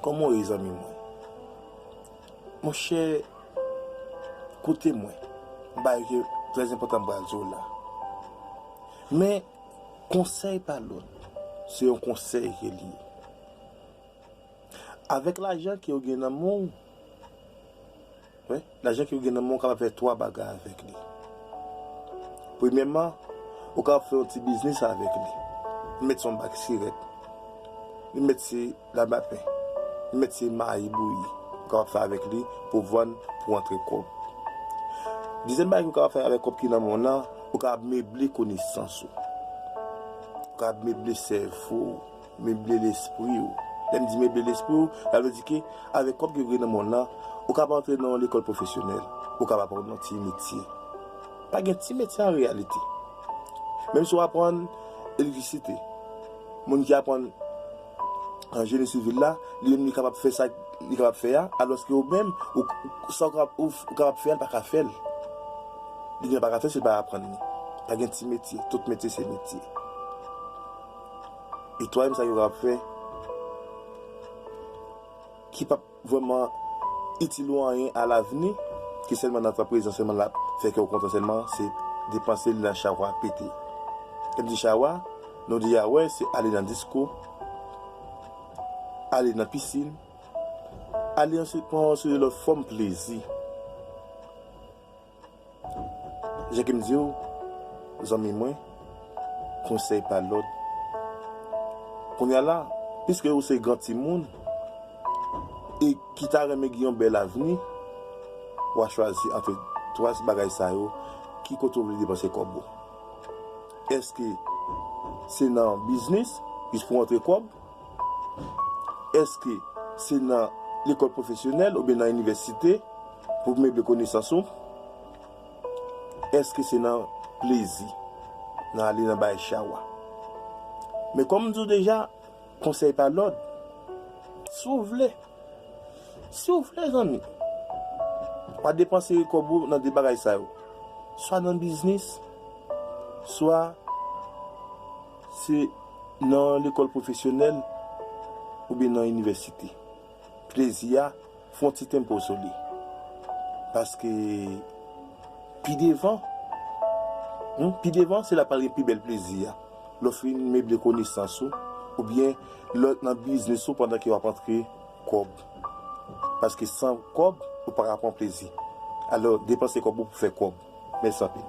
Koman ou ye zanmi mwen? Mon chè, koute mwen, m bagay ki trè enpòtan m pral di w la. Men, konsèy pa lòt, se yon konsèy ke li ye. Avèk lajan ke ou gen nan men w, Men, lajan ke ou gen nan men ou kapab fè 3 bagay avèk li. Premyèman, ou kapab fè yon ti biznis avèk li. Li mèt se yon bak sirèt. Li mèt se labapen. Li mèt se mayi bouyi. Ou kapab fè avèk li pou vann, pou antre kòb. Dezyèm bagay ke ou kapab fè avèk kòb ki nan men w nan, ou kapab meble konesans ou. Ou kapab meble sèvo ou. Meble lespri ou. Lè m di meble lespri ou, sa vle di ke avèk kòb ke ou gen nan monn lan, ou kab antre nan yon lekòl pwofesyonèl, ou kab aprann yon ti metye. Pa gen ti metye an reyalite. Menm si w aprann elektrisite, moun ki aprann jeni sivil la, li menm li kapab fè sa li kapab fè a, alòske ou menm, ou, sa ou kapab fè a, ou pa ka fè l. Li menm li pa ka fè l si l pa aprann li. Pa gen ti metye, tout metye se metye. E twaèm sa yo ka ap fè ki pap vrèman itil ou anyen a lavni, ke sèlman nan tan prezan sèlman lap fè kèw kontan sèlman, se depanse li nan chawa pete. Lèm di chawa, nou deja wè se ale nan disko, ale nan pisin, ale yon seri pran yon seri lòt fòm plezi. Jan ke m di w, zanmi mwen, konsèy pa lòd. Kounye a la, piske ou se gran timoun e ki ta renmen gen yon bèl avni, w a chwazi antre twa bagay sa yo, ki kote ou vle depanse kòb ou? Èske se nan biznis, jis pou w antre kòb? Èske se nan lekòl pwofesyonèl oubyen nan inivèsite pou meble konesans ou? Èske se nan plezi, nan ale nan bay chawa? Men kòm m di w deja, konsèy pa lòd. Si w vle, si w vle zanmi, pa depanse kòb ou nan 2 bagay sa yo, swa nan biznis, swa. Se nan lekòl pwofesyonèl oubyen nan inivèsite? Plezi a, fè yon ti tempo sou li. Paske pi devan, humm, pi devan se la pral gen pi bèl plezi a, lè w fin meble konesans ou, oubyen lè w nan biznis ou pandan ke w ap antre kòb. Paske san kòb, ou pa ka pran plezi. Alò, depanse kòb ou pou fè kòb. Mèsi anpil.